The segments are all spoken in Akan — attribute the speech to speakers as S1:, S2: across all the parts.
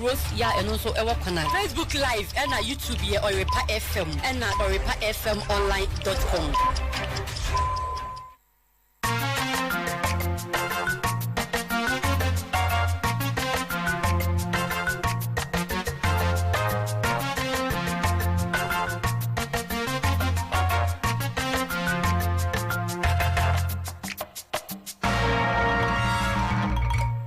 S1: Rose Yah ɛno nso ɛwɔ kwan a. Facebook live ɛna YouTube yɛ Ɔyɛrepa FM ɛna Ɔyɛrepa FM online dot com.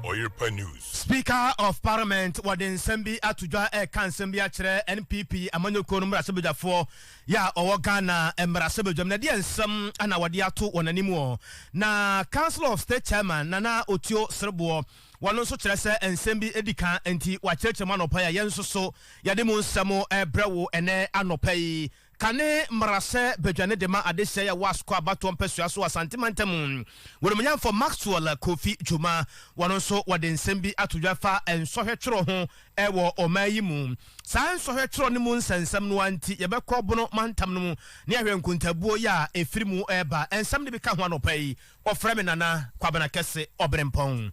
S2: Ɔyɛrepa News. Speaker of
S3: Parliament wɔde nsɛm bi ato dwa ɛreka nsɛm bi akyerɛ NPP amanyɔkuo no mmarahyɛbadwafoɔ yɛ a ɔwɔ Ghana mmarahyɛbadwam. Na ɛdeɛ nsɛm na wɔde ato wɔn anim ɔ? Na Council of State Chairman Nana Otio Sereboɔ wɔn nso kyerɛ sɛ nsɛm bi di ka nti wɔakyerɛkyerɛ mu anɔpa yi a yɛn nso so yɛde mu nsɛm rebrɛ wo ɛnɛ anɔpa yi. Kane mmara sɛ badwa no de ma adesɛe a ɛwɔ asukɔ abatoɔ mpasua so wɔ Asante mantam. W'anumonyamfoɔ Maxwell Kofi Dwuma, wɔn nso wɔde nsɛm bi ato dwa fa nsɔhwɛ twerɛ ho wɔ ɔman yi mu. Saa nsɔhwɛ twerɛ no mu nsɛnsɛm no ara nti yɛbɛkɔ Bono mantam no mu ne ahwɛ nkontabuo yɛ a ɛfiri mu reba. Nsɛm no bi ka ho anɔpa yi. Wɔfrɛ me Nana Kwabena Kɛse Ɔberempɔn.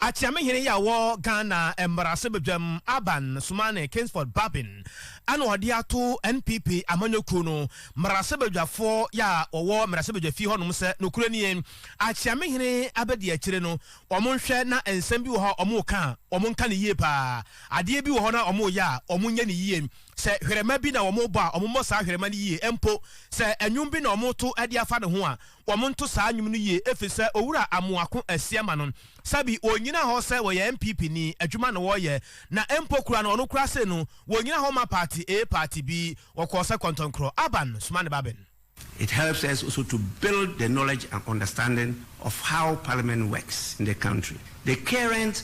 S3: Akyeamehene yi a ɔwɔ Ghana mmarahyɛbadwam aban Sumane Kingsford Babin na ɔde ato NPP amanyɔkuo no mmarahyɛbadwafoɔ yɛ a wɔwɔ mmarahyɛbadwafie hɔnom sɛ nokorɛ nie Akyeamehene abɛdi akyire no wɔn nhwɛ na nsɛm bi wɔ hɔ a wɔn reka a wɔn nka no yie pa ara adeɛ bi wɔ hɔ no a wɔn reyɛ a wɔn nyɛ no yie sɛ hwerɛma bi na wɔn rebɔ a wɔn mmɔ saa hwerɛma no yie mpo sɛ nnwom bi na wɔn reto de afa ne ho a Wɔnto saa nnwom no yie efisɛ Owura Amoako Asiamah no, sɛbi ɔnnyina hɔ sɛ ɔyɛ NPP ni, adwuma na ɔreyɛ, na mpo koraa no ɔno koraa sei no ɔnnyina hɔ mma party A, party B, ɔkɔɔ sɛ kɔntɔnkorɔ, Aban, soma ne ba Ben. It helps us
S4: also to build the knowledge and understanding of how Parliament works in the country. The current.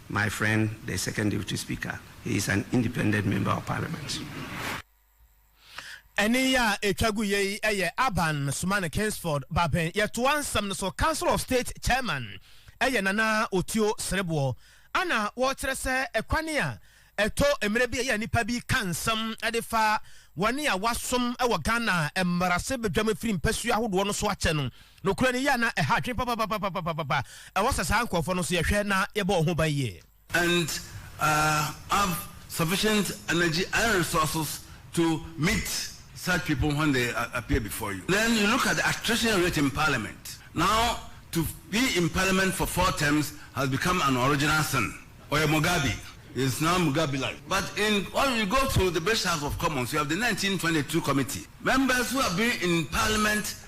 S4: My friend the second deputy speaker he is an independent member of parliament.
S3: Ɛnne yi a ɛtwa gu yɛ yi yɛ Aban Sumane Kingsford Baben. Yɛtoa nsɛm no so, Council of State Chairman yɛ Nana Otio Sereboɔ. Ana wɔkyerɛ sɛ ɛkwane a ɛtɔ mmerɛ bi a ɛyɛ a nnipa bi ka nsɛm de fa wɔn a wɔasom wɔ Ghana mmarahyɛbadwam afiri mpasua ahodoɔ no so akyɛ no, Nokorɛ no, yei a na ɛha adwene papapapapapapa ɛwɔ sɛ saa nkorɔfoɔ no nso yɛhwɛ na yɛbɔ wɔn ho ban yie. and
S5: have sufficient energy and resources to meet such people when they appear before you. Then you look at the attrition rate in parliament, now to be in parliament for four terms has become an original sin. Ɔyɛ Mugabe, he is now Mugabelite. But in when you go to the British House of Commons, you have the 1922 committee, members who have been in parliament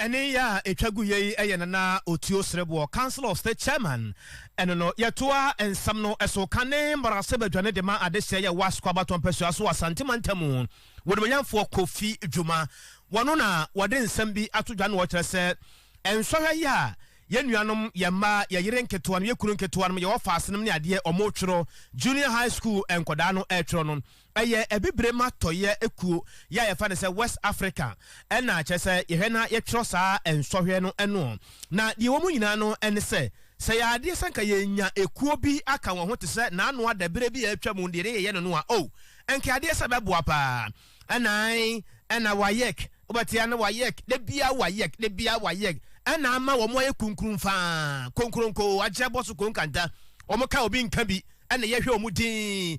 S3: Ɛne yɛ a ɛtwa gu yɛ yi yɛ Nana Otuo Sereboɔ, Council of State Chairman. Ɛno no, yɛtoa nsɛm no so ka ne mmarahyɛbadwani de ma adehyeɛ yɛ Wasco abatoɔ mpasua so wɔ Asante mantam mu. W'animuonyamfoɔ Kofi Dwuma, wɔno na wɔde nsɛm bi ato dwa na wɔkyerɛ sɛ, nsɔhwɛ yɛ a yɛn nuanom, yɛn mma, yɛn yere nketewanom, yɛn kunu nketewanom, yɛn ɔfaasenom ne adeɛ wɔretwerɛ, Junior High School nkwadaa no retwerɛ no, Ɛyɛ abibire ma tɔeɛ ekuo yɛ a yɛfa no sɛ West Africa ɛna kyerɛ sɛ yɛhwɛ na yɛtwerɛ saa nsɔhwɛ no ɛnoɔ. Na deɛ ɛwɔ mu nyinaa no ɛne sɛ, sɛ yɛ adeɛ sɛ nka yɛnya ekuo bi aka wɔn ho te sɛ Nanoa daberɛ bi a atwa mu deɛ ne yɛyɛ no no a oh nka adeɛ sɛ ɛbɛboa pa ara. Ɛna ae ɛna WAEC wobɛte a na WAEC da biara WAEC da biara WAEC ɛna ama wɔn ayɛ kunkrum fa ara konkronko agyɛ bɔ so konkanta wɔn ka obi nka bi ɛna yɛhwɛ wɔn din.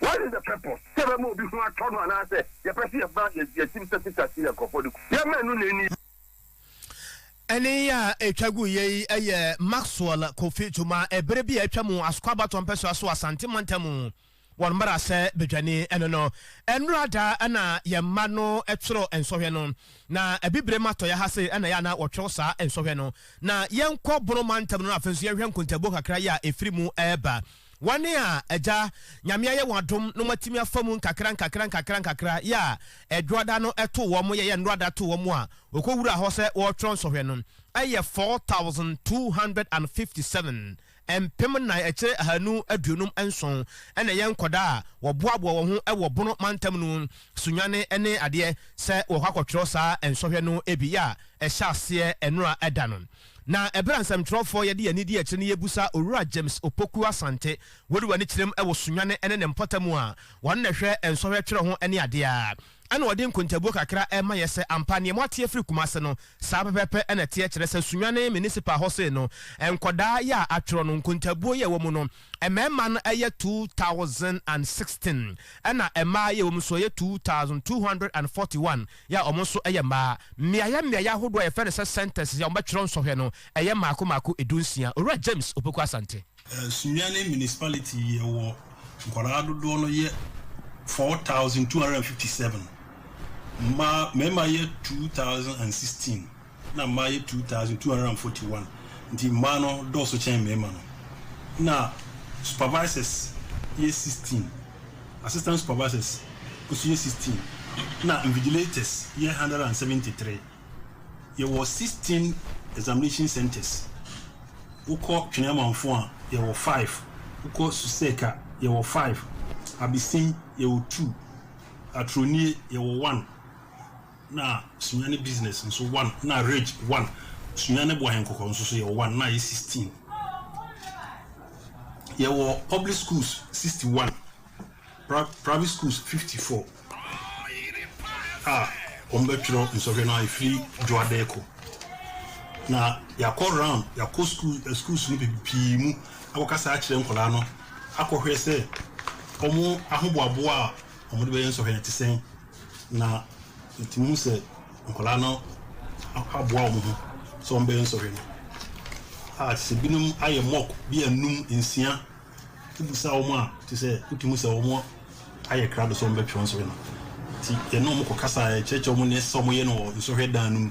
S2: What is the purpose sɛ yɛbɛma obi ho atɔ no anaasɛ
S3: yɛpɛ sɛ yɛba yɛn tirim sɛ Peter te yɛn nkurɔfoɔ de ko? Yɛmma ɛno na ɛnni hɔ. Ɛnne yi a ɛtwa guiɛ yi yɛ Maxwell Kofi Tuma ɛberɛ bi a atwa mu Asokɔ-Abatɔ mpɛsoa so Asante mantam mu wɔn mmarahyɛ badwani no no. Ɛnnora da na yɛn mma no twerɛ nsɔhwɛ no. Na Abibirem atɔeɛ ha sei na ɛyɛ a na wɔtwerɛ saa nsɔhwɛ no. Na yɛnkɔ Bono mantam no na afei nso yɛnhwɛ nkontabuo kakra yi a ɛfiri mu reba. Wɔn a Agya Nyame ayɛ wɔn adom na wɔatumi afa mu nkakra nkakra nkakra nkakra yɛ a Ɛdwoada no too wɔn yɛ yɛ Nnwoada too wɔn a wɔkɔwuraa hɔ sɛ wɔretwerɛ nsɔhwɛ no yɛ 4,257, mpem nnan akyire ahanu aduonum nson, na ɛyɛ nkɔdaa a wɔboaboa wɔn ho wɔ Bono mantam no sunyane ne adeɛ sɛ wɔrekɔ akɔtwerɛ saa nsɔhwɛ no bi yɛ a ɛhyɛ aseɛ nnora da no. Na ɛberɛ a nsɛmtwerɛfoɔ yɛde yɛn anidie akyire no yɛrebisa Owura James Opoku Asante, wode w'ani kyerɛm wɔ Sunyani ne ne mpɔtam mu a, ɔno na ɛhwɛ nsɔhwɛ twerɛ ho ne adeɛ a, ɛna ɔde nkontabuo kakra rema yɛn sɛ ampa neɛ moate afiri Kumase no, saa pɛpɛpɛ na ɛteɛ kyerɛ sɛ Sunyani Municipal hɔ sei no, nkwadaa yɛ a atwerɛ no, nkontabuo yɛ ɛwɔ mu no, mmarima no yɛ 2016, ɛna mmaa yɛ ɛwɔ mu nso yɛ 2241. yɛ a wɔn nso yɛ mmaa. Mmeaeɛ mmeaeɛ ahodoɔ a yɛfrɛ no sɛ centres yɛ a wɔbɛtwerɛ nsɔhwɛ no, ɛyɛ mmaako mmaako du nsia. Owura James Opoku Asante. Sunyani
S6: Municipality yɛ wɔ nkwadaa dodoɔ no yɛ four thousand two hundred and fifty seven, mmaa mmarima yɛ two thousand and sixteen. na mmaa yɛ two thousand two hundred and forty one nti mmaa no dɔɔso kyɛn mmarima no. Ɛna supervisors yɛ sixteen, assistant supervisors nso yɛ sixteen, ɛna invigilators yɛ one hundred and seventy three. Yɛwɔ sixteen examination centres, wokɔ Twene Amanfo a, yɛwɔ five, wokɔ Susek a, yɛwɔ five, Abisen, yɛwɔ two, Atronie, yɛwɔ one. Na Sunya ne business nso one na rage one Sunya ne Boahen Kɔkɔɔ nso so yɛwɔ one na ayɛ sixteen Yɛwɔ public schools sixty one pra private schools fifty four a wɔbɛtwerɛ nsɔhwɛ no a ɛfiri Dwoadɛ kɔ Na yɛakɔ round yɛakɔ school eh, schools no bi pii mu akɔkasa akyerɛ nkwadaa no akɔhwɛ sɛ wɔn ahoboaboa a wɔde bɛyɛ nsɔhwɛ no te sɛn. Na yɛtumi hu sɛ nkwadaa no aboa wɔn ho sɛ wɔbɛyɛ nsɔhwɛ no. A, te sɛ binom ayɛ mock bi a nnum, nsia. Wobisa wɔn a, te sɛ wotumi hu sɛ wɔayɛ krado sɛ wɔbɛtwerɛ nsɔhwɛ no. Nti yɛne wɔn kɔkasa a, yɛkyerɛkyerɛ wɔn nea ɛsɛ sɛ wɔyɛ no wɔ nsɔhwɛ dan no mu.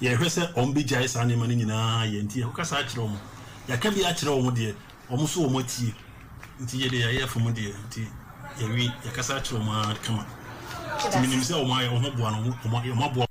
S6: Yɛhwɛ sɛ wɔbɛgyae saa nneɛma no nyinaa yɛ nti, yɛkɔkasa akyerɛ wɔn. Yɛaka bi akyerɛ wɔn deɛ, wɔn nso wɔatie. Nti yɛ deɛ yɛayɛ afa mu deɛ nti, yɛawie. Yɛkasa akyerɛ wɔn ara kama. Nti menim sɛ wɔn ayɛ wɔn ho boa no, wɔaboa wɔn.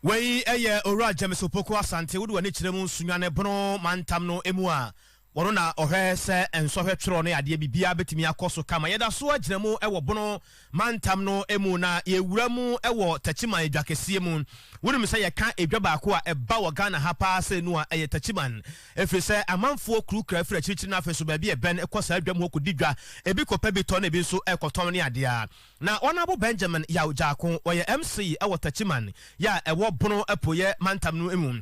S3: Wei yɛ Owura James Opoku Asante, wode w'ani kyerɛ mu, Sunyani Bono mantam no mu a, Ɔno na ɔhwɛ sɛ nsɔhwɛ twerɛ ne adeɛ biribiara bɛtumi akɔ so kama. Yɛda so gyina mu wɔ Bono mantam no mu na yɛwura mu wɔ Takyiman dwakɛseɛ mu. Wonim sɛ yɛka edwa baako a ɛba wɔ Ghana ha pa ara sɛ nu a, ɛyɛ Takyiman. Ɛfiri sɛ amanfoɔ kurukura firi akyirikyiri na afei nso baabi a ɛbɛn kɔ saa dwam hɔ kɔdi dwa. Ɛbi kɔpɛ bi tɔ na ɛbi nso kɔtɔn ne adeɛ. Na Ɔnaabo Benjamin Yaw Gyarko, ɔyɛ MC wɔ Takyiman, yɛ a ɛwɔ Bono apueɛ mantam no mu.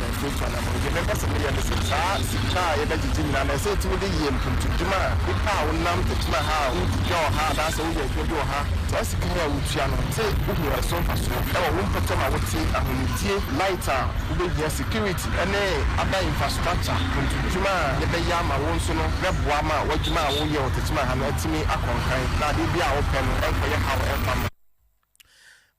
S2: Ɛnde gya na meyɛ. Mebɔ so meyɛ no sɛ saa sika a yɛbɛgyegye nyinaa no, ɛsɛ sɛ ɛtumi de yɛ mpuntuadwuma a nnipa a wonam adwuma ha a wodi dwa wɔ ha anaasɛ woyɛ adwuma bi wɔ ha, saa sika yi a wotua no, sɛ wohu ɛso mfasoɔ wɔ wo mpɔtam a wote, ahomegyeɛ, light a wobɛhia, security ne adan infrastructure, mpuntuadwuma a yɛbɛyɛ ama wo nso no bɛboa ma w'adwuma a woyɛ wɔ Techiman ha no atumi akɔ nkan na adeɛ biara a wopɛ no nkɔyɛ haw mfa mma.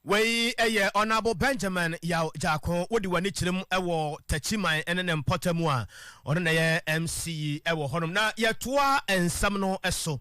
S3: Wei yɛ Honourable Benjamin Yaw Gyarko, wode w'ani kyerɛ mu wɔ Takyiman ne ne mpɔtam a, ɔno na ɛyɛ MC wɔ hɔnom. Na yɛtoa nsɛm no so.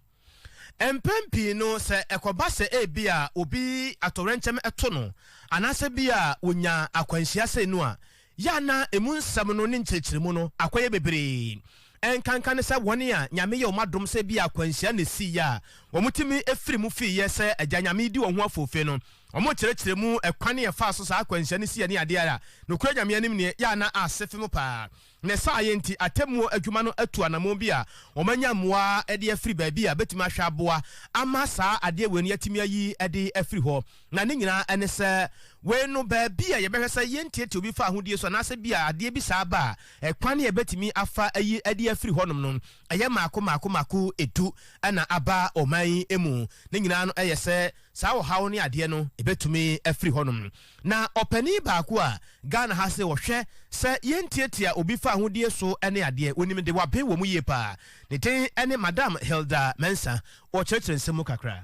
S3: Mpɛn pii no sɛ ɛkɔba sɛ ebi a obi atɔwrɛnkyɛm to no anaasɛ bi a wonya akwanhyia sei no a, Yɛ a na emu nsɛm no ne nkyerɛkyerɛmu no akɔyɛ bebree. Ɛnkanka ne sɛ wɔn a Nyame yɛɛ wɔn adom sɛ ebia akwanhyia na esii a wɔtumi firi mu fiiɛ sɛ Agya Nyame redi wɔn ho afoofe no, wɔkyerɛkyerɛ mu kwan a ɛfaa so saa akwanhyia no siiɛ ne adeɛ a nokorɛ Nyame anim neɛ yɛ a na ase fem paa. Ne saayɛ nti atemmuo adwuma no atu anammɔn bi a wɔanya mmoa de afiri baabi a ɛbɛtumi ahwɛ aboa ama saa adeɛ wei no yɛatumi ayi de afiri hɔ. Na ne nyinaa ne sɛ, wei no, baabi a yɛbɛhwɛ sɛ yɛntiatia obi fa ahodie so anaasɛ bi a adeɛ bi saa ba a, ɛkwan a yɛbɛtumi afa ayi de afiri hɔnom no, ɛyɛ mmaako mmaako mmaako du na aba ɔman yi mu. Ne nyinaa no yɛ sɛ saa ɔhaw ne adeɛ no ɛbɛtumi afiri hɔnom. Na ɔpanin baako a Ghana ha se wɔhwɛ sɛ yɛntiatia obi fa ahodie so ne adeɛ, wɔnim de, wɔaben wɔn yie pa ara. Ne din ne Madam Hilda Mensah. Wɔkyerɛkyerɛ nsɛm mu kakra.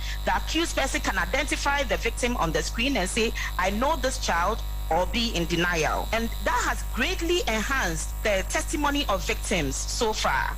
S7: The accused person can identify the victim on the screen and say, I know this child or be in denial and that has greatly enhanced the testimony of victims so far.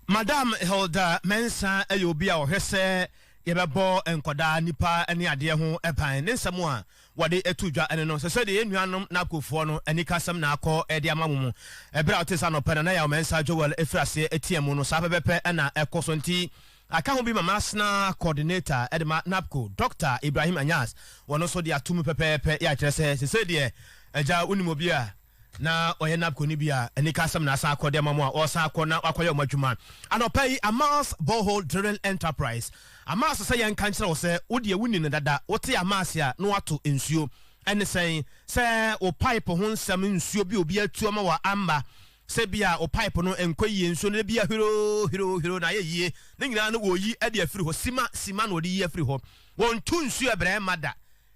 S3: Madam Hilda Mensah yɛ obi a ɔhwɛ sɛ yɛbɛbɔ nkwadaa, nnipa ne adeɛ ho ban. Ne nsɛm a wɔde to dwa ne no, Sɛ sɛdeɛ yɛn nuanom Nakofoɔ no anikasɛm na akɔ de ama mo mu berɛ a wotee sɛ anɔpa yi Nana Yaw Mensah Joel firi aseɛ teaam no, saa pɛpɛpɛ na ɛkɔ so. Nti, Aka ho bi ma masena coordinator de ma NAPCO, Dɔkta Ibrahim Anyas, wɔno nso de ato mu pɛpɛɛpɛ, yɛ a kyerɛ sɛ sesei deɛ Agya wonim obi a na ɔyɛ NAPCO no bi a anika asɛm na asan akɔ de ama mo a ɔresan akɔ na wakɔyɛ wɔn adwuma. Anɔpa yi Amas Borehole Drilling Enterprise, Amas sɛ yɛnka nkyerɛ wo sɛ wo deɛ wonni no dada, wote Amas a na woato nsuo. Ɛne sɛn? Sɛ wo pipe ho nsɛm, nsuo bi a obi atu ama wo a amma, Sɛ ebia wo pipe no nkɔ yie nso no da biara hwiroo hwiroo hwiroo na ayɛ yie. Ne nyinaa no wɔyi de afiri hɔ. Sima sima na wɔde yi afiri hɔ. Wɔntu nsuo ɛbrɛ mma da.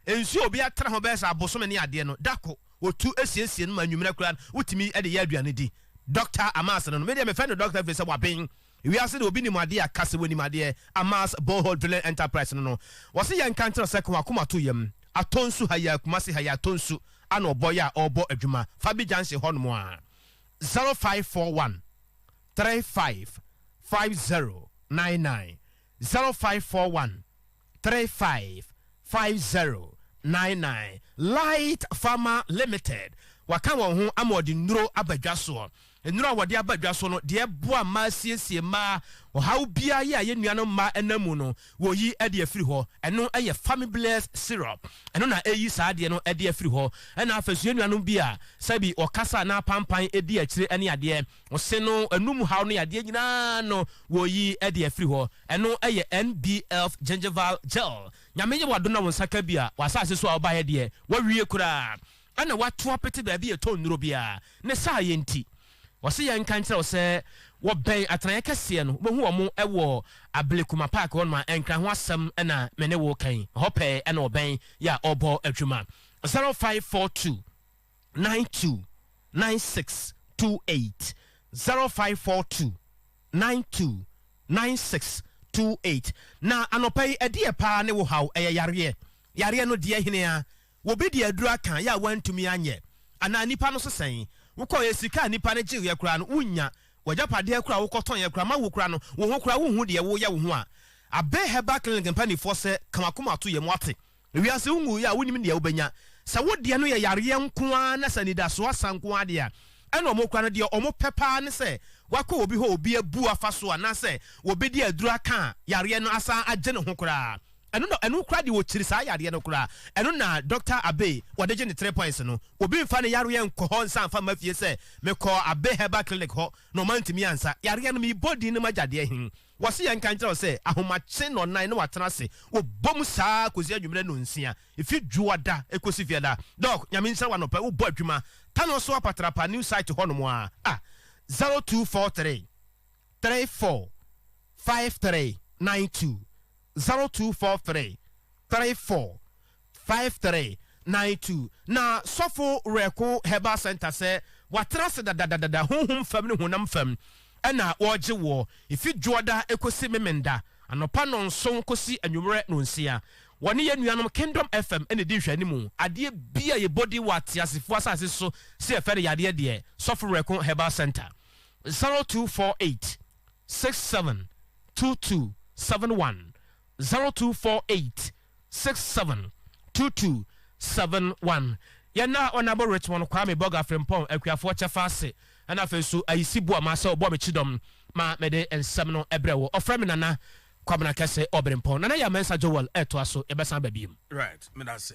S3: Nsuo a obi atena ho bɛyɛ sɛ abosome ne adeɛ no, da ko wɔtu siesie no ma anwummerɛ koraa no wotumi de yɛ aduane di. Doctor Amas no no, me deɛ mefrɛ no Doctor ɛfiri sɛ waben. Wiase de obi nim adeɛ a ka sɛ wonim adeɛ Amas borehole drilling enterprise no no wɔse yɛnka nkyerɛ sɛ ka wɔn akoma to yam atɔ nsu ha yi a Kumasi ha yi atɔ nsu ana ɔbɔ yɛ a ɔrebɔ adwuma Fabi junction hɔ nom a zero five four one three five five zero nine nine zero five four one. three five five zero nine nine Light Pharma Limited wɔaka wɔn ho ama wɔde nnuro aba dwa soɔ. Nnuro a wɔde aba dwa so no, deɛ ɛboa mmaa siesie mmaa ɔhaw biara yɛ a ɛyɛ nnuanom mmaa ɛnam mu no, wɔyi de afiri hɔ. Ɛno yɛ Famiblares Syrup. Ɛno na ɛyi saa adeɛ no de afiri hɔ. Ɛna afei nso yɛ nnuanom bi a sɛbi wɔkasa anaa apampan di akyire ne adeɛ. Ɔse no anum haw no yadeɛ nyinaa no wɔyi de afiri hɔ. Ɛno yɛ NBF Gingival Gel. Nyame yɛ w'adom na wo nsa ka bi a, w'asase so a wobaeɛ deɛ, woawie koraa. Ɛna woato apete baabi a ɛtɔ nnuro biara. Ne saayɛ nti, ɔse yɛnka nkyerɛ wo sɛ wɔbɛn atenaeɛ kɛseɛ no, wobɛhu wɔn wɔ Ablekuma Park hɔnom a Nkran ho asɛm na me ne wo reka yi. Ɛhɔ pɛɛ na wɔbɛn yɛ a wɔrebɔ adwuma. 0542. nine two nine six two eight zero five four two nine two nine six two eight na anɔpa yi ɛdeɛ paa ne wo haw ɛyɛ yareɛ yareɛ no deɛ hene a wɔbi de aduro aka yɛ a wantumi anyɛ anaa nipa no so sɛn wokɔyɛ sika a nipa no gyeeɛ koraa no wonnya wagyapadeɛ koraa wokɔtɔnyɛ koraa ma wo koraa no wo ho koraa wonhu deɛ woyɛ wo ho a abɛ herbal clinic mpanifoɔ sɛ ka wakoma to yɛ mo ate Wiase ho nwui a wonnim deɛ wobɛnya. Sɛ wo deɛ no yɛ yareɛ nko ara na sɛ anidasoɔ asa nko ara deɛ a, ɛna wɔkura no deɛ wɔpɛ pa ara ne sɛ wakɔ obi hɔ a obi abu afa so anaasɛ wɔbɛdi aduro aka a yareɛ no asan agye ne ho koraa. Ɛno na ɛno koraa deɛ wɔkyiri saa yareɛ no koraa. Ɛno na Dɔkta Abbey wɔde gye ne three points no. Obi mfa ne yareɛ nkɔ hɔ nsa mfa mma fie sɛ mekɔɔ Abbey Herbal Clinic hɔ na wɔantumi ansa yareɛ no, mebɔ din no m'agyadeɛ he. Wɔse yɛnka nkyerɛ wo sɛ ahomakye nnɔnnan na watena ase wɔ bɔ mu saa kɔsi anwummerɛ nnɔnsia, ɛfiri dwoada kɔsi fiada. Doc, Nyame nhyira wo anɔpa yi wobɔ adwuma Tano so Apatrapa new site hɔ nom aa a, 0243 34 5392, 0243 34. five three nine two Na sɔfo Werɛko Herbal Centre sɛ wɔatena ase dadadadada honhom fam ne honam fam na wɔregye woɔ ɛfi dwoɔda kɔsi memenda, anɔpa nnɔnson kɔsi anwummerɛ nnɔnsia. Wɔne yɛn nuanom Kingdom FM na ɛdi nhwɛanimu. Adeɛ bi a yɛbɔ din wɔ ateasefoɔ asase so sɛ yɛfrɛ no yadeɛ deɛ, sɔfo Werɛko Herbal Centre, zero two four eight six seven two two seven one, zero two four eight 67 22 71 Yɛn na Onabo Richmond Kwame Bɔga Frimpong Akuafoɔ kyɛfa ase ɛna afei nso ayisi boa ma sɛ ɔbɔ me kyidɔm ma mede nsɛm no brɛ wo ɔfrɛ me Nana Kwabena Kɛse Obirempong Nana Yaw Mensah Joel ɛtoa so yɛbɛsan ba
S8: biom.
S3: Right,
S8: meda ase.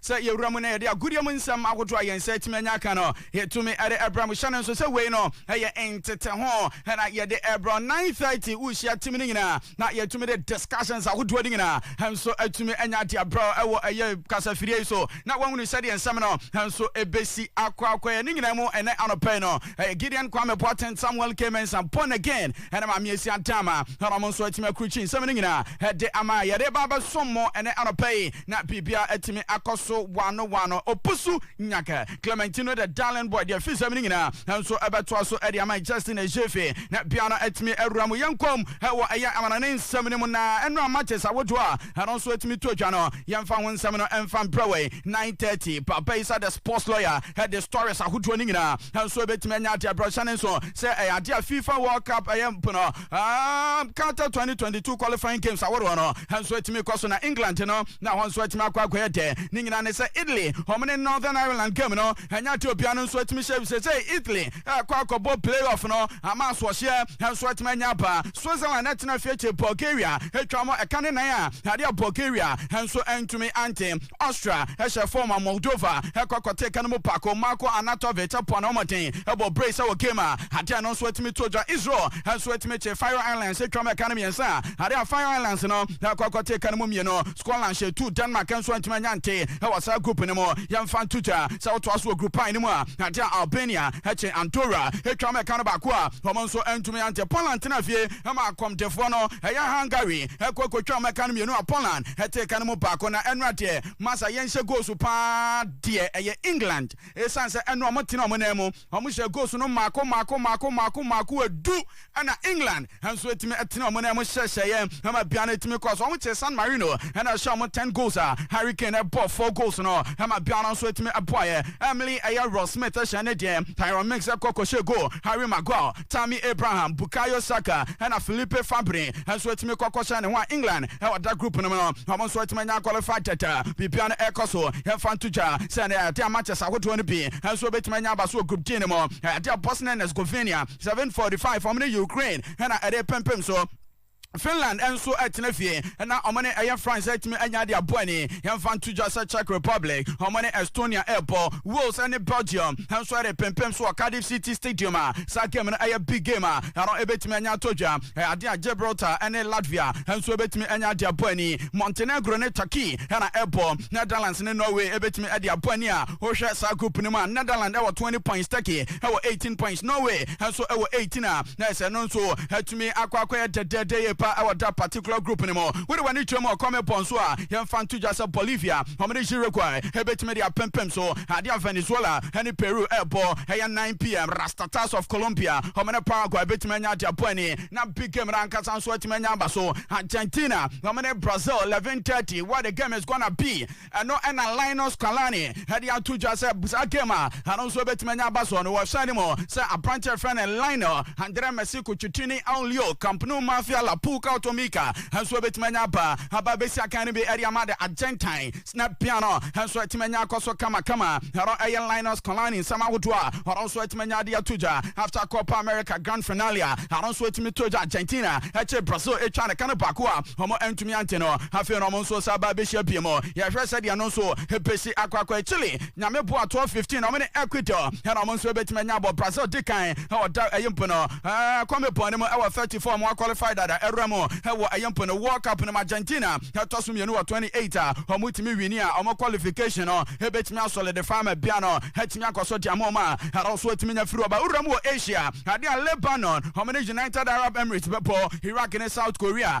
S9: Sɛ yɛwura mu na yɛde agodie mu nsɛm ahodoɔ a yɛn nsa atumi anya aka no, yɛtumi de brɛ mo. Hyɛ no nso sɛ wei no yɛ nteteho na yɛde brɛ wo. 9:30 wohyia team no nyinaa na yɛtumi de discussions ahodoɔ no nyinaa nso atumi anya de abrɛ wo wɔ ɛyɛ kasafidie yi so na woahunu sɛdeɛ nsɛm no nso ɛbɛsi akɔ akɔeɛ. Ne nyinaa mu ɛnɛ anɔpa yi no ɛyɛ Gideon Kwame Boateng Samuel K. Mensah born again ne Maame Asia Adama na wɔn nso atumi akurukyi nsɛm no nyinaa de ama a yɛde ba abɛsom mo ɛnɛ anɔpa yi na biribiara atumi akɔ so wano wano. Opusu Nyaka, Clementino the Darling Boy de afi nsɛm no nyinaa nso ɛbɛtoa so de ama Justin Ejefe na biara atumi awura mu. Yɛnkɔm wɔ ɛyɛ amanɔne nsɛm no mu na ɛnora matches ahodoɔ a Ɛno nso atumi to dwa no. Yɛmfa ho nsɛm no mfa mprɛ wei, 9:30, Papa Isa the sports lawyer de stories ahodoɔ no nyinaa nso ɛbɛtumi anya adeɛ brɔhyɛ no nso sɛ ɛyɛ adeɛ a FIFA World Cup ɛyɛ mpo no um, Qatar 2022 qualifying games ahodoɔ no nso atumi kɔ so na England no na hɔ nso atumi akɔ akɔyɛ dɛ ne nyinaa ne sɛ Italy wɔn ne Northern Ireland game no ɛnyɛ adeɛ obiara no nso atumi hyɛ bisɛ sɛ Italy ɛkɔ akɔbɔ playoff no ama asoɔhyeɛ nso atumi anya aba Susan a na ɛtena fie te Bulgaria twaa mu ɛka ne nan a ade a Bulgaria nso antumi ante. Austria hyɛɛ fam ma Moldova kɔ kɔtee ɛka no mu paako. Marko Arnautovic poa ne homɔden bɔ brace wɔ game a ade a ɛno nso atumi to gya. Israel nso atumi te Faroe Islands twaa mu ɛka no mmiɛnsa a ade a Faroe Islands no kɔ kɔtee ɛka no mu mmienu. Scotland hyɛ tuu Denmark nso antumi anya nte wɔ saa group no mu. Yɛmfa nto dwa sɛ wotoa so wɔ Group I no mu a ade a Albania kye Andorra twaa mu ɛka no baako a wɔn nso antumi Tomiante Poland tenaa fie ma akɔmdefoɔ no yɛ Hungary kɔ kɔtwam ɛka no mmienu a Poland tee ɛka no mu baako na ɛno adeɛ masa yɛnhyɛ goals paa deɛ ɛyɛ England ɛsiane sɛ ɛno ɔmo tena ɔmo nan mu ɔmo hyɛ goals no mmaako mmaako mmaako mmaako mmaako ɛdu ɛna England nso ɛtumi ɛtena ɔmo nan mu hyɛhyɛeɛ ɛma bia no ɛtumi kɔɔ so ɔmo kyee San Marino ɛna ɛhyɛ ɔmo 10 goals a Harry Kane ɛbɔɔ 4 goals no ɛma bia no nso ɛtumi ɛboaeɛ Emily ɛyɛ Ross Smith hyɛn no deɛ, Tyrone Mings kɔ kɔhyɛ goal, Harry Maguire, Tammy Abraham, Bukayo Saka ɛna Philippe Fabry nso atumi kɔ kɔhyɛ ne ho a England ɛwɔ da group no mu no, wɔn nso atumi anya qualified tɛtɛ. Biribiara no ɛrekɔ so, yɛmfa nto dwa sɛ ɛnɛ yɛde matches ahodoɔ no bi nso bɛtumi anya aba so wɔ Group D no mu. Ɛyɛ adeɛ a Bosnia and Herzegovina, 7:45, wɔn ne Ukraine na ɛrepempem so. Finland nso tena fie na wɔn ne ɛyɛ France atumi anya de abɔ ani. Yɛmfa nto dwa sɛ Czech Republic, wɔn ne Estonia rebɔ. Wales ne Belgium nso repempem so wɔ Cardiff City Stadium a saa game no yɛ big game a ɛno ebetumi anya atɔ dwa. Ɛyɛ ade a Gibraltar ne Latvia nso ebetumi anya de abɔ ani. Montenegro ne Turkey na ɛrebɔ. Netherlands ne Norway ebetumi de abɔ ani a wohwɛ saa group no mu a Netherlands wɔ 20 points, Turkey wɔ 18 points, Norway nso wɔ 18 a Nurse no nso atumi akɔ akɔyɛ dɛdɛɛdɛ yie paa wɔ that particular group no mu. Wode w'ani kyerɛ mu wɔ kɔme pɔn so a, yɛmfa nto dwa sɛ Bolivia, wɔn ne Uruguay bɛtumi de apempem so ade a Venezuela ne Peru rebɔ. Ɛyɛ 9 PM, Rastatas of Colombia, wɔn ne Paraguay bɛtumi anya ade abɔ ani, na big game no ankasa nso atumi anya aba so. Argentina, wɔn ne Brazil, 11:30, What the game is gonna be! Ɛno na Lionel Scalani de ato dwa sɛ saa game a ɛno nso bɛtumi anya aba so no. Wɔhyɛ ne mu sɛ aberante a ɛfrɛ no Lionel Andre Messi Cuccittini Aulio Camp Nou Mafia La Puca Automica nso bɛtumi anya aba aba bɛsi akan no bi de ama de Argentine na pia no nso atumi anya akɔ so kamakama. Ɛno ɛyɛ Lionel Scalani nsɛm ahodoɔ a ɔno nso atumi anya de ato dwa after Copa America Grand Finale a ɛno nso atumi to dwa Argentina akyire Brazil atwa ne ka no baako a wɔn Mia nti no, afei no ɔmo nso san ba behyia pii mu. Yɛhwɛ sɛdeɛ ɛno nso ebesi akɔ akɔɛ. Chile, Nyame boa, toɔ 15, ɔmo ne Ecuador ɛna ɔmo nso ebetumi anya abɔ. Brazil di kan wɔ da ɛyi mpo no ɛɛ Comebol no mu ɛwɔ 34 ɔmo akɔlifai dada ɛwura mu ɛwɔ ɛyi mpo no World Cup no mu. Argentina ɛtɔ so mmienu wɔ 28 a ɔmo tumi wini a ɔmo kɔlifikashin no ebetumi asɔlidifai ama bia no atumi akɔ so de ama ɔmo a ɛno nso atumi anya firi ɔba wura mu wɔ Asia. Adeɛ a Lebanon ɔmo ne United Arab Emirates bɛbɔ, Iraq ne South Korea.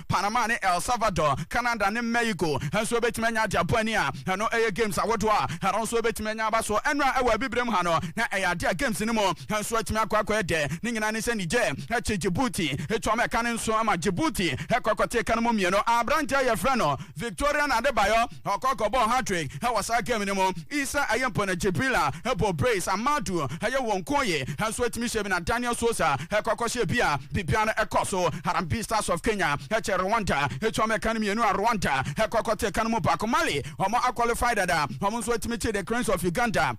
S9: Panama ne El Salvador, Canada ne Mexico nso betumi anya ade abɔ ani a ɛno yɛ games ahodoɔ a ɛno nso betumi anya aba so nnora ɛwɔ Abibirem ha no na ɛyɛ adeɛ a games no mu nso atumi akɔ akɔyɛ dɛ. Ne nyinaa ne sɛ Niger kye Djibouti etu ama ɛka no nso ama Djibouti kɔ akɔte ɛka no mu mmienu. Aberanteɛ a yɛfrɛ no Victorian Adebayor. Ɔkɔ kɔbɔɔ hat-trick wɔ saa game no mu. Issa Ayempong, Jibrila bɔɔ brace, Amadou yɛ wɔn nkɔɔyɛ nso atumi hyɛ bi na Daniel Sosa kɔ kɔhyɛ bi a biribiara kɔ so. Harambee Stars of Kenya kyɛ Rwanda tuam ɛka no mmienu a Rwanda kɔ kɔto ɛka no mu baako. Mali, wɔn a qualify dada, wɔn nso atumi kye The Cranes of Uganda.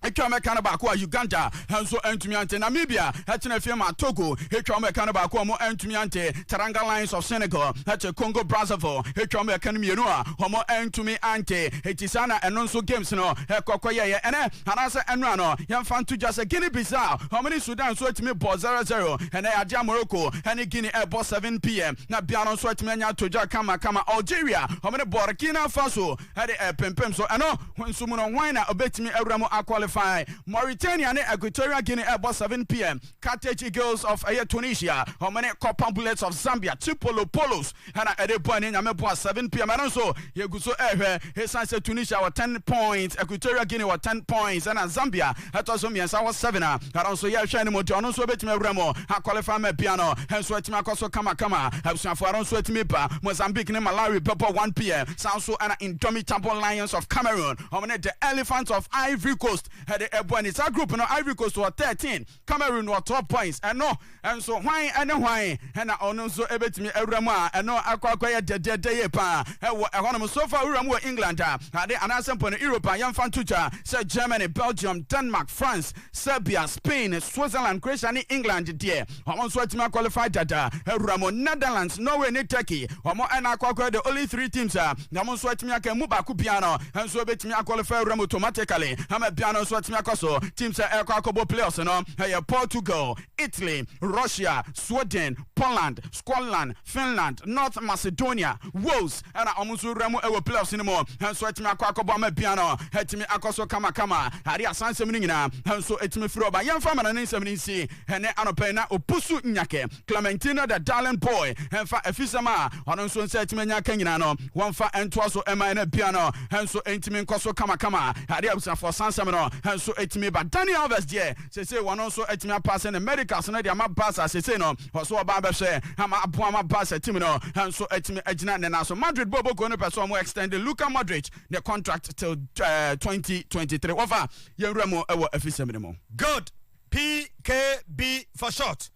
S9: Atwa wɔn ɛka no baako a Uganda nso antumi ante. Namibia kyena afie maa Togo twa wɔn ɛka no baako a wɔn antumi ante. Teranga Lions of Senegal kye Congo Brazzaville twa wɔn ɛka no mmienu a wɔn antumi ante. Enti saa na ɛno nso games no kɔ kɔyɛeɛ ɛnɛ anaasɛ ɛnora no. Yɛmfa nto dwa sɛ Guinea Bissau wɔn ne Sudan nso atumi bɔ zero zero. Ɛnɛ adeɛ a Morocco ne Guinea ɛrebɔ 7 pm na biara nso atumi anya todwa kama kama. Algeria wɔn ne Burkina Faso. de repempem so. Ɛno nso mu no, hwan na obetumi awura mu akwalifai? Mauritania ne Equatorial Guinea rebɔ 7 pm, Carthage Eagles of ɛyɛ Tunisia, wɔn ne Copper Bullets of Zambia, Chipolo Polos, ɛna ɛde bɔ ani nyame boa 7 pm. Ɛno nso yɛgu so rehwɛ, esiane sɛ Tunisia wɔ 10 points, Equatorial Guinea wɔ 10 points, ɛna Zambia ɛtɔ so mmiɛnsa wɔ seven a ɛno nso yɛhwɛ anim nti ɔno nso obetumi awura mu akɔlefa ma pia no nso atumi akɔ so kamakama abusuafo ɛno nso atumi ba Mozambique ne Malawi bɛbɔ 1 pm saa nso ɛna Indomitable Lions of Cameroon wɔn ne the Elephants of Ivory Coast ɛde ɛbɔ ani saa group no Ivory Coast wɔ 13 Cameroon wɔ 12 points ɛno Nanso hwan ne hwan na ɔno nso betumi awura mu a ɛno akɔ akɔyɛ dɛdɛɛdɛ yie paa wɔ ɛhɔnom? So fa wura mu wɔ England a ade anaasɛ mpo no Europe a yɛmfa nto twa sɛ Germany, Belgium, Denmark, France, Serbia, Spain, Switzerland, Croatia ne England deɛ wɔn nso atumi akɔlifai dada awura mu. Netherlands, Norway ne Turkey wɔn na akɔ akɔyɛ the only three teams a wɔn nso atumi aka emu baako biara no nso betumi akɔlifai awura mu automatically ama biara no nso atumi akɔ so. Teams a ɛrekɔ akɔbɔ playoffs no yɛ Portugal, Italy, Russia, Sweden, Poland, Scotland, Finland, North Macedonia, Wales na wɔn nso wura mu wɔ playoffs no mu nso atumi akɔ akɔbɔ ama bia no atumi akɔ so kamakama. Ade asansɛm no nyinaa nso atumi firi ɔba. Yɛmfa mmara ne nsɛm no nsi ɛne anɔpa yi na opusu nyakɛ Clementina the darling boy mfa afisɛm a ɔno nso nsa atumi anya aka nyinaa no wɔmfa ntoa so ɛma ɛna bia no nso ntumi nkɔ so kamakama. Ade abusuafoɔ sansɛm no nso atumi ba. Dani Alves deɛ Seesei wɔn nso atumi apaase no Americas no de ama Barca seesei no wɔso ɔbaa bɛhwɛ ama aboa ma Barca team no nso atumi agyina ne nan so Madrid bɔɔl bɔkuo no pɛ sɛ wɔn extend Luka Modric ne contract till 2023 wɔfa yɛn wura mu wɔ afisɛm no mu. Good!
S3: PKB for short.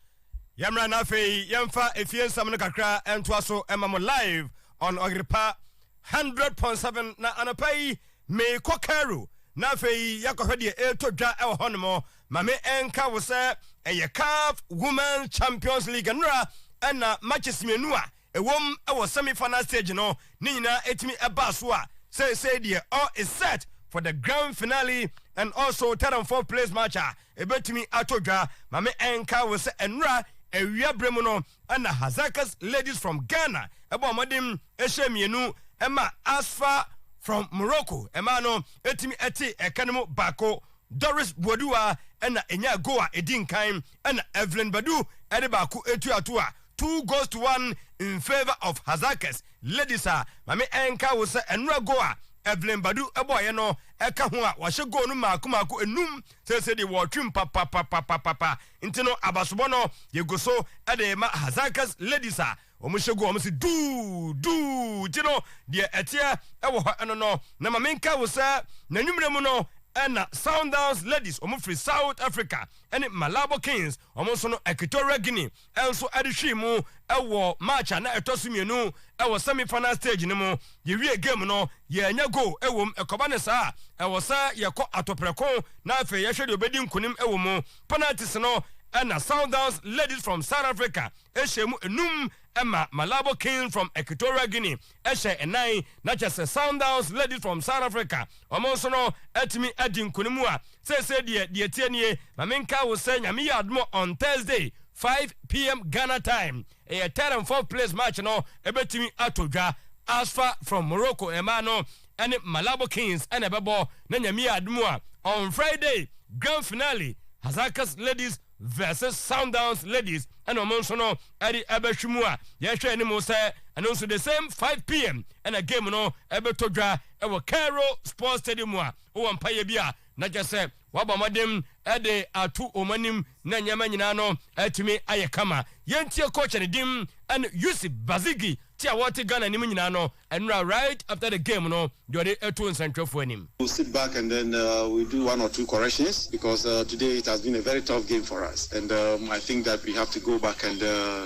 S3: Yɛmmra na afei yɛmfa efie nsɛm no kakra ntoa so mma mo live on Ɔyerepa Hundred pon seven na anɔpa yi meekɔ Cairo na afei yɛakɔhwɛ deɛ ɛretɔ dwa wɔ hɔnom. Ma me nka wo sɛ ɛyɛ CAF Women's Champions League nnora na matches mmienu a ɛwom wɔ semi final stage no ne nyinaa ɛtumi baa so a seesei deɛ all is set for the grand finale and also third and fourth place match a ɛbɛtumi atɔ dwa. Ma me nka wo sɛ nnora awia berɛ mu no, ɛna Hazakas Ladies from Ghana ɛbɔɔ mmɔden ɛhyɛɛ mmienu ɛma Asfa from Morocco ɛmaa no ɛtumi ɛtee ɛka no mu baako. Doris Buaduwa ɛna ɛnyaa goal a ɛdi nkan ɛna Evelyn Badu ɛde baako ɛtua to a two goals to one in favour of Hazakas Ladies a mame ɛnkae wo sɛ ɛnora goal a Evelyn Badu ɛbɔɔeɛ no ɛka ho a wɔahyɛ goal no mmaako mmaako nnum seesei deɛ wɔɔtwem papapapapapa Nti no abasobɔ no yɛgu so de rema Hazakah's ladies a wɔhyɛ gu wɔn se duu, duu, nti no deɛ ɛteɛ wɔ hɔ no no na ma menkae wo sɛ n'anwummerɛ mu no na Sundowns ladies wɔn firi South Africa ne Malabo Kings wɔn nso no Equatorial Guinea nso de hwee mu wɔ match a na ɛtɔ so mmienu wɔ semi final stage no mu yɛwie game no yɛanya goal wɔ mu ɛkɔba no saa a ɛwɔ sɛ yɛkɔ atoprɛko na afei yɛhwɛ deɛ ɔbɛdi nkonim wɔ mu Penalties no na Sundowns Ladies from South Africa hyɛɛ mu nnum ma Malabo Kings from Equatorial Guinea hyɛɛ nnan, na kyerɛ sɛ Sundowns Ladies from South Africa wɔn nso no atumi adi nkunim a seesei deɛ deɛ ɛteɛ nie, ma menkae wo sɛ Nyame yɛ adom a on Thursday, five pm Ghana time, Ɛyɛ third and fourth place match no ɛbɛtumi atɔ dwa. Asfa from Morocco mmaa no ɛne Malabo Kings ɛna ɛbɛbɔ na Nyame yɛ adom a on Friday grand finale Hazakas
S8: Ladies vs Sundowns Ladies ɛna wɔn nso no ɛde ɛbɛhwe mu a yɛhwɛ anim sɛ ɛno nso the same 5pm ɛna game no ɛbɛtɔ dwa ɛwɔ Cairo Sports Stadium a wowɔ mpaeɛ bi a Na kyerɛ sɛ wɔabɔ mmɔden de ato wɔn anim na nneɛma nyinaa no atumi ayɛ kama. Yɛntie coach no din ne Yusuf Bazigi te a ɔte Ghana anim nyinaa no nnora right after the game no deɛ ɔde ato nsɛntwerɛfoɔ anim. We'll sit back and then
S10: we'll do one or two corrections because today it has been a very tough game for us and I think that we have to go back and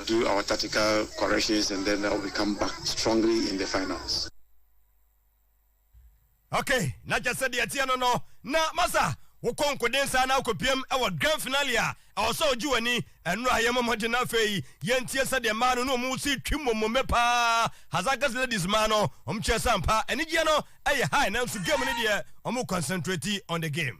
S10: do our tactical corrections and then we come back strongly in the finals.
S3: ok na kyɛ sɛ deɛ ɛteɛ no no na masa wokɔ nkoden saa na wokɔpiam wɔ grand finale a ɛwɔ sɛ wogye w'ani ɛno a yɛ mɔ mmɔden na afei yɛntie sɛdeɛ mmaa no ne ɔmo si twi mmommomme paa Hazankes ladies mmaa no ɔmo kyerɛ sɛ ampa anigyeɛ no ɛyɛ high nanso game no deɛ ɔmo concentrate on the game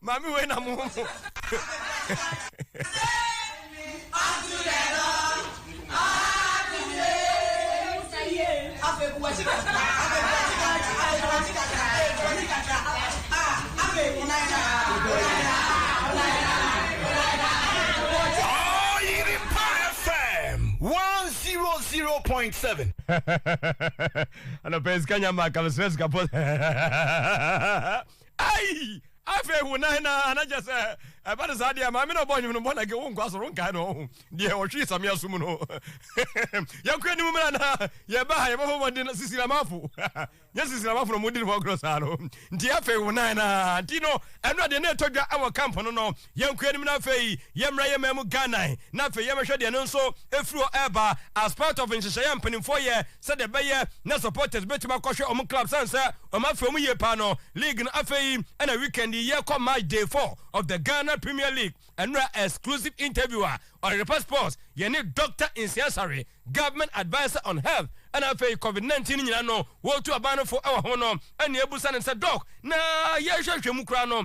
S3: Maame wei na mo
S9: ho mo. point seven.
S3: Ano pens kanya ma kama sres kapos. Ai! Afei hu na hena a na kyɛ sɛ ɛba no saa deɛ maame na ɔbɔ nwom no bɔ na ke wo nkɔ asɔre wonkae no ɔho deɛ ɔhwee samea so mu no yɛnkɔ anim mmra na yɛba ha yɛbɛbɔ mmɔden na sisiramafo nyɛ sisiramafo na ɔmodi ne ho agorɔ saa no nti afei wo nan na nti no ɛno adeɛ na ɛtɔ dwa wɔ camp no no Yɛnkɔ anim na afei yɛmmra yɛn man mu Ghana na afei yɛmmɛhwɛ deɛ ɛno nso ɛfiri hɔ ɛreba as part of nhyehyɛeɛ a mpanimfoɔ yɛ sɛdeɛ ɛbɛyɛ na supporters bɛtumi akɔhwɛ wɔn club sane sɛ wɔn afiri wɔn yie paa no. League no afei ɛna weekend yi yɛrekɔ match day four of the Ghana Premier League ɛnora exclusive interview a Ɔyerpa Sports yɛne Doctor Nsia Sare Government Adviser on Health ɛna afei Covid nineteen no nyinaa no wɔretu aban no fo ɛwɔ ho no ɛna yɛrebisa no sɛ Doc na yɛrehwɛhwɛ mu koraa no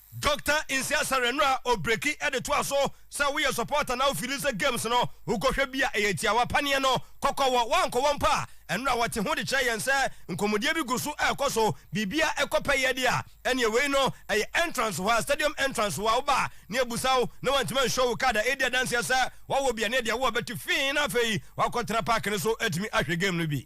S3: Doctor Nsia Sarah no a ɔbreki de toa so sɛ, Woyɛ supporter na wofili sɛ games no wokɔhwɛ bi a ɛyɛ tiawa paneɛ no kɔkɔ wɔ woankɔwɔ mpo a, ɛno a wɔte ho de kyerɛ yɛn sɛ nkɔmmɔdie bi gu so rekɔ so, biribiara rekɔ pɛyɛ deɛ a, ɛneɛ wei no ɛyɛ entrance hɔ a, stadium entrance hɔ a woba a na yɛbusa wo na woantumi anhwɛ wo card a ɛredi adanseɛ sɛ woawɔ bi a na ɛdeɛ wowɔ bɛte fii na afei woakɔtena park no so atumi ahwɛ game no bi.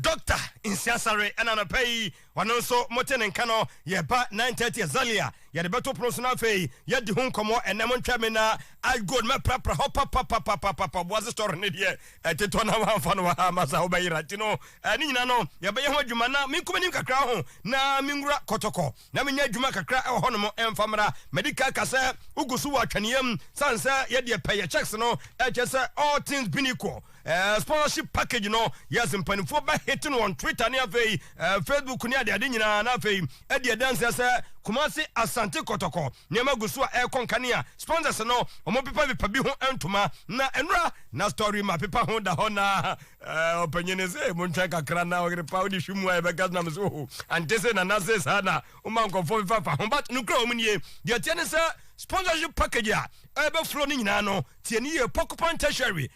S3: Doctor Nsia Sare ɛna anɔpa yi ɔno nso mote ne nka no yɛba nine thirty exactly a yɛde bɛto pono so na afei yɛadi ho nkɔmmɔ ɛnɛ montwɛn me na Ash Gold mɛprapra hɔ papapapapapa Boase Store ne deɛ ɛtetɔ na wɔamfa no wɔ ha ama saa wobɛyera nti no ne nyinaa no yɛbɛyɛ ho adwuma na menko m'anim kakra ho na menwura kɔtɔkɔ na menya adwuma kakra wɔ hɔnom mfa mmra. Madi kan ka sɛ, Wogu so wɔ atwɛneyɛ mu sane sɛ yɛ deɛ pɛ yɛ checks no, ɛkyerɛ sɛ all things being equal, eh, sponsorship package no, yes, mpanimfoɔ bɛ hate no on Twitter ne afei eh, Facebook ne adeade nyinaa, na afei adi adanseɛ sɛ Kumasi, Asante, Kɔtɔkɔ, nneɛma gu so a ɛrekɔ nkanea. Sponsors no, wɔpepapepa bi ho ntoma na nnura, na story ma pepa ho da hɔ na. Eh, ɔpanyini se montwɛn kakra na ɔyere pa wode hwe mu a yɛbɛka nam so ho ante se nana se saa na woma nkɔfoɔ fefafa ho but nokora wɔ mu nie deɛ teɛ ne sɛ sponsorship package a ɛbɛforo no nyinaa no tie ne yie pɔkopan tertiary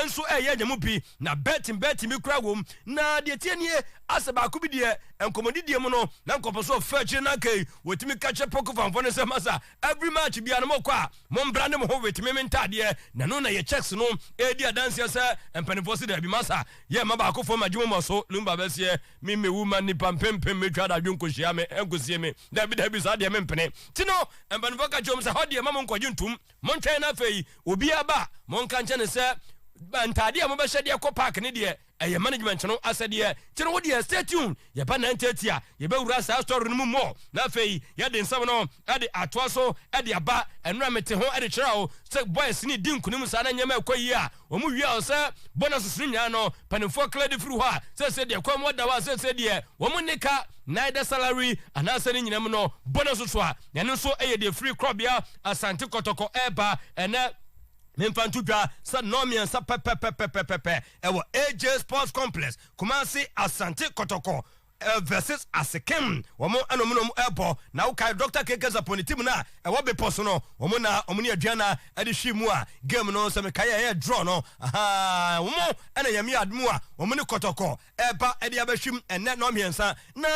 S3: nso ɛyɛ nya mu bi na betting betting bi koraa wɔ mu na deɛ tie nie asɛ baako bi deɛ nkɔmmɔdidie mu no na nkɔpɔ so ɔfɛ akyire no akai wɔtumi ka kyerɛ pɔkofanfoɔ no sɛ masa every match biara no mo kɔ a mo mbrande mo ho with meme ntaadeɛ na ɛno na yɛ checks no ɛɛdi adanseɛ sɛ mpaninfoɔ se daabi masa yɛ mma baako fɔm agye mo mɔ so lumba bɛseɛ me me wu ma nipa mpempem mɛtwa dadwe nkɔ hyia me ɛnkɔ sie me daabi daabi saa deɛ me mpene ti no mpaninfoɔ ka kyerɛ mo sɛ hɔ deɛ ma mo nkɔ gye ntum mo ntwɛn na afei obiara ba mo nka nkyɛ ne sɛ ntaadeɛ a mo bɛhyɛ deɛ kɔ park ne deɛ Ɛyɛ management no asɛdeɛ. Nti no wodeɛ stay tuned, yɛba nine thirty a yɛbɛwura saa story no mu more na afei yɛde nsɛm no de atoa so de aba. Ɛno na mete ho de kyerɛɛ wo sɛ boys no redi nkunim saa na nneɛma ɛkɔ yie a wɔn wia wɔ sɛ bonuses no nyinaa no mpaninfoɔ clear de firi hɔ a seesei deɛ kɔn mu ada hɔ a seesei deɛ wɔn nni ka neither salary anaasɛ ne nyinam no bonuses a ɛno nso yɛ deɛ firi korɔbea Asante Kɔtɔkɔ ɛreba ɛnɛ memfa nto dwa sɛ nnɔɔ mmiɛnsa pɛpɛpɛpɛpɛpɛ ɛwɔ AJ Sports Complex, Kumasi, Asante Kɔtɔkɔ eh, versus Asekem. Wɔn na wɔn na wɔn ɛbɔ. Na wokae Dr. KK Sapɔ ne team no a ɛwɔ bepɔ so no, wɔn na wɔn ne Aduana ɛde hwii mu a game no sɛ mekae a ɛyɛ draw no. Ahaa, wɔn ɛna Nyame ad mu a wɔn ne Kɔtɔkɔ ɛba ɛde abɛhwim ɛnɛ nɔɔ mmiɛnsa. Na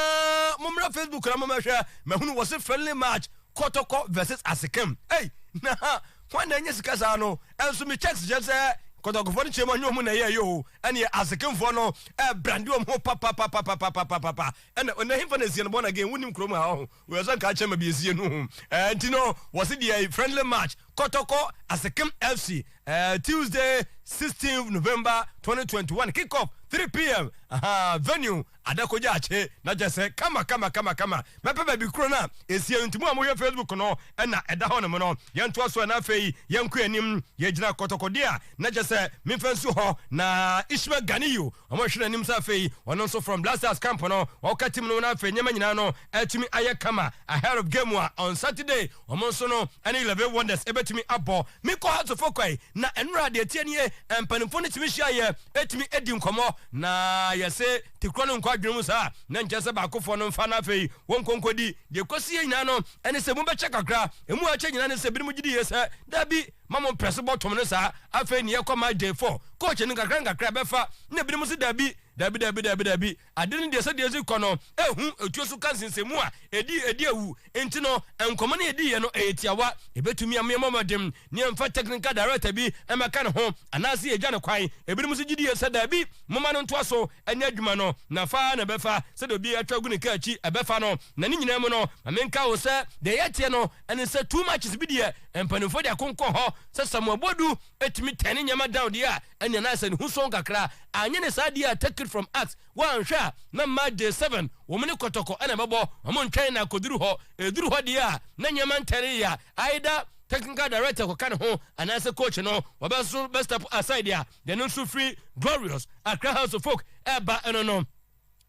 S3: mommra Facebook na mommɛhwɛ, mahunu wɔ se friendly match Kɔtɔkɔ versus Asekem. Ei, na ha Hwan na anya sika saa no? Nso me checks kyerɛ sɛ kɔtɔkɔfoɔ no kyerɛ mu ɛnyɛ ɔmo na ɛyɛɛyɛ o, ɛneɛ asekenfoɔ no ɛɛbrande ɔmo ho papapapapapapapa, ɛna ɔnɛ hefa na ɛsiɛ no born again wonim kurom ha ɔho, wei sɛ nka kyerɛ ma bi ɛsiɛ no ho, ɛɛ nti no wɔse deɛ friendly match kɔtɔkɔ asekem FC ɛɛ Tuesday 16th November 2021 kick off 3 pm ahaa venue Ada kogya akye na kyɛ sɛ kama kama kama kama mɛpɛ baabi koro no a ɛsie nti mo a mohwɛ facebook no ɛna ɛda hɔ nom no yɛntoa so ɛna afei yɛnkɔ anim yɛgyina kɔtɔkɔdeɛ a na kyɛ sɛ memfa nsuo hɔ na Ishmael Ganiyu ɔmo hwɛ n'anim sɛ afei ɔno nso from blasters camp no ɔka team no ho na afei nneɛma nyinaa no atumi ayɛ kama ahead of game a on Saturday Wɔn nso no ne Levee Wonders bɛtumi abɔ. Me Kohatfo kwae, na ɛnora a deɛ ɛteɛ nie, mpanimfoɔ no tumi hyia yɛ tumi di nkɔmmɔ, na yɛse te korɔ no nkɔ adwene mu saa, na nkyerɛ sɛ baakofoɔ no mfa, na afei wɔnkɔ nkɔdi. Deɛ ɛkɔsiiɛ nyinaa no ne sɛ mobɛkyɛ kakra, ɛmu a ɛkyɛ nyinaa ne sɛ binom gye diiɛ sɛ daabi, ma mo mprɛ so bɔtom no saa, afei ne yɛkɔ match day four, coach no nkakra nkakra bɛfa, na binom se daabi, daabi, daabi, daabi, daabi. Ade no deɛ sɛdeɛ ɛsi kɔ no, ɛhu ɛtuo so ka nsensɛnmu a ɛdi ɛdi awu nti no, nkɔmmɔ no a yɛdiiɛ no, ɛyɛ tiawa. Ɛbɛtumi ama yɛabɔ mmɔden na yɛmfa technical director bi mmɛka ne ho anaasɛ yɛagya no kwan. Ɛbinom nso gye die sɛ daabi, momma no ntoa so nyɛ adwuma no, n'afa ara na ɛbɛfa, sɛdeɛ obi atwa agu ne kaa akyi ɛbɛfa no. Na ne nyinaa mu no, ma menka wo sɛ deɛ ɛyɛ teɛ no ɛne sɛ too much bi deɛ, mpanimfoɔ de akonkɔn hɔ sɛ Samoa Boadu tumi turn nneɛma down deɛ a, ɛnneɛ na ayɛ sɛ ne ho sua wo kakra, anyɛ ne saa deɛ a take it from us, woanhwɛ a na March day seven wɔn ne kɔtɔkɔ na ɛbɛbɔ, wɔn ntwɛn na akɔduru hɔ, ɛduru hɔ deɛ a na nneɛma ntɛre yea, either technical director kɔka ne ho anaasɛ coach no wɔbɛ nso bɛ step aside a deɛ no nso firi Glorious Accra House of Folk ɛreba no no.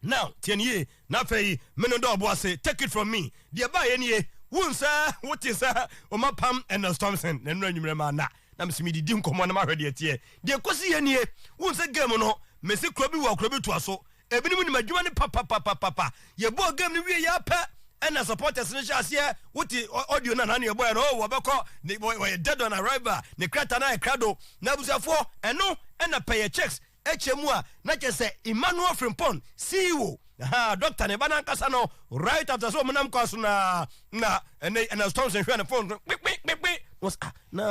S3: Now, tie no yie, na afei me no dɔ ɔbo ase, take it from me, deɛ ɛbaeɛ nie, wohu sɛ wote sɛ Oma Pam and Nels Thompson, na nnora anwummerɛ maa nna na mese medidi nkɔmmɔ na mahwɛ deɛ ɛteɛ, deɛ ɛkɔsiiɛ nie, wohu sɛ game no, mese kuro bi wɔ a kuro bi toa so, ebinom nim adwuma no papapapapapa, yɛbɔɔ game no wieeɛ ara pɛ ɛna supporters no hyɛɛ aseɛ, wote audio no anaa nea ɛbɔeɛ no, oh wɔbɛkɔ, ne, wɔyɛ dead on arrival, ne krataa no ayɛ krado, na abusuafoɔ, ɛno ɛna pɛyɛ checks, Ɛkyɛ mu a, na kyerɛ sɛ Emmanuel Frimpong sii wo. Ahaa, dɔkta ne ba no ankasa no, right after sɛ wɔnam kwan so no ara na ɛnɛ Ernest Thompson hwɛɛ ne phone no, kpekpekpekpe, na wɔsɛ, ah, na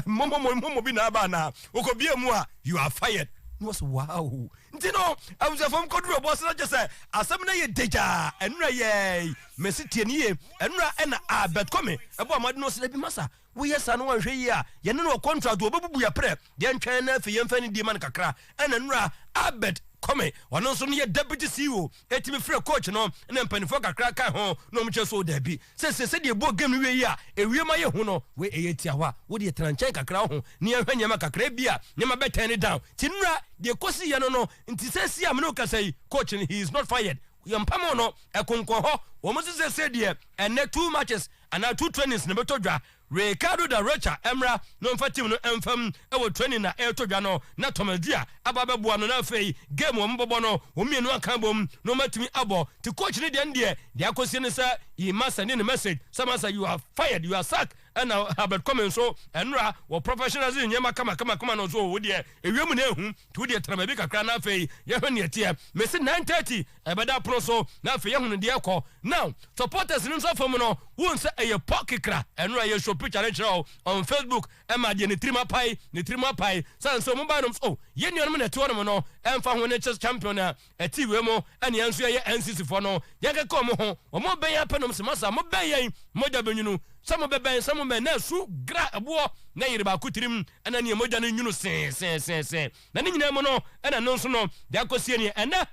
S3: mmɔmmɔmmɔ mmɔmmɔ bi na aba anaa? Wokɔbie mu a, you are fired. Na wɔsɛ, wow. Nti no, abusuafoɔ mu kɔduru ɔboɔ so na kyerɛ sɛ asɛm no yɛ dagyaa. Ɛnora yɛɛi, mese tie no yie, ɛnora ɛna Albert Comey ɛbɔɔ mmɔden na ɔsɛ, dabi masa, Woyɛ saa na wanhwɛ yie a, yɛne no wɔ contract o, ɔbɛbubu yɛn prɛ. Yɛntwɛn na afei yɛmfa anidie ma no kakra. Ɛna nnura Albert Kome, ɔno nso no yɛ Deputy CEO, tumi frɛɛ coach no na mpanimfoɔ kakra ka ho na wɔn kyerɛ sɛ o daabi, seesei sɛdeɛ yɛbɔɔ game no wiei yi a, ɛwiem ayɛ hu no, wei ɛyɛ tiawa, wo deɛ tena nkyɛn kakra wo ho na yɛnhwɛ nneɛma kakra ebia nneɛma bɛ turn down. Nti nnura deɛ ɛkɔsiiɛ no no nti seesei a me ne wo kasa yi, coach no he is not fired, yɛmpam no, ɛkonkɔn hɔ, wɔn nso seesei deɛ ɛnnɛ two matches, anaa two trainings na ɛbɛtɔ dwa. Ricardo da Rocha mmra na ɔmfa team no mfa mu wɔ training a ɛretɔ dwa no na Thomas Dua aba abɛboa no na afei game a wɔbɛbɔ no wɔn mmienu aka abom na wɔatumi abɔ nti coach no deɛ no deɛ deɛ akɔsie ne sɛ yi ma sɛne ne message sɛ masa you are fired you are sacked ɛna Herbert Comey nso ɛnora wɔ professionalism nneɛma kamakamakama no nso o wo deɛ ewiem na ehu Tu deɛ tena baabi kakra na afei yɛhwɛ neɛ ɛteɛ. Mese nine thirty ɛbɛda pono so na afei yɛhunu deɛ ɛkɔ. Now supporters no nsa fam no wohu sɛ ɛyɛ pɔ kekra ɛno a yɛ show picture no kyerɛ wo on Facebook ɛma adeɛ ne tirim apae ne tirim apae sane sɛ ɔmo bae nom sɛ oh yɛn nuanom na ɛte hɔnom no ɛmfa ho ne chess champion a Ɛte wei mo ɛne yɛn nso yɛyɛ NCC foɔ no yɛn kɛkɛ wɔn ho wɔn bɛn yɛn apɛnom sɛ masa mo bɛn yɛn mogya bɛnwunu sɛ mo bɛbɛn sɛ mo mɛn na ɛso gra ɛboɔ na ɛyere baako tirim ɛna neɛ mogya no nwunu sɛɛsɛɛsɛɛsɛ na ne nyinaa mu no ɛna ɛno nso no deɛ akɔsie neɛ ɛnɛ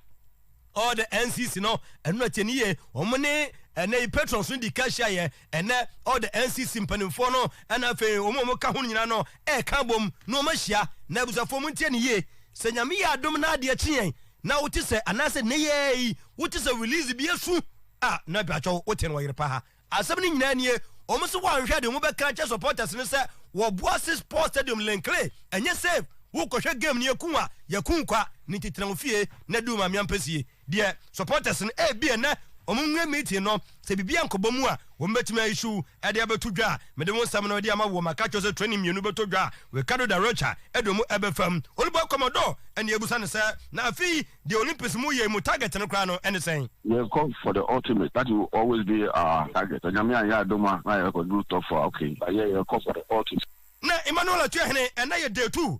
S3: all the NCC no ɛno na kyɛ ne yie wɔn ne ɛnɛ yi patrons no di ka hyia yɛ Ɛnnɛ, all the NCC mpanimfoɔ no ɛna afei wɔn a wɔka ho no nyinaa no ɛreka abom na wɔn ahyia. Na abusuafoɔ mo ntie no yie, sɛ Nyame yɛ adom na adeɛ kye yɛn na wo te sɛ anaasɛ nnɛ yi ara yi wo te sɛ release bi asu a, na mpakyɛw wo te no wɔ yere pa ha. Asɛm no nyinaa nie, wɔn se wɔanhwɛ de wɔn bɛka akyerɛ supporters no sɛ wɔboa se sports stadium Linkley ɛnyɛ safe, wo kɔhwɛ game no yɛku a yɛku kwa, ne nti tena wo fie na di wo maame ampesie. Deɛ supporters no ebi ɛnɛ wɔn nwura meeting no sɛ biribi ankɔbɔ mu a wɔn bɛtumi a issue ɛde abɛto dwa a mede wo nsɛm no ɛde ama woɔ maka kyerɛ sɛ training mmienu bɛtɔ dwa a Ricardo da Rocha ɛde wɔn ɛbɛfa mu Olubwa Commodore ɛne abusa no sɛ na afei deɛ Olympics mu yei mu target no koraa no ɛne sɛn? Yɛkɔ for the
S2: ultimate that will always be our target sɛ Nyame anyɛ adom a na yɛkɔduru top four okay but yɛ yɛkɔ for the ultimate. Na Emmanuel
S3: Atuahene ɛnɛ yɛ day two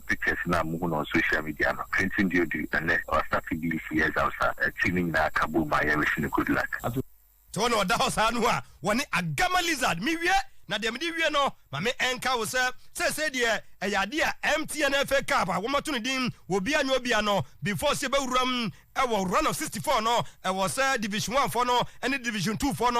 S2: pictures no a muhu no on social media no, Clinton deɛ ɔdi ɛnɛ, ɔ starte BEC exams a akyiri no nyinaa aka bom a yɛrewish no good luck. Tɔ na ɔda
S3: hɔ saa no a wɔne Agama lizard. Mewie na deɛ mede wie no ma me nka wo sɛ seesei deɛ ɛyɛ adeɛ a MTN FA Cup a wɔato no din wɔ obia nyɛ obia no before sɛ yɛbɛwura mu wɔ run of 64 no ɛwɔ sɛ Division One foɔ no ne Division Two foɔ no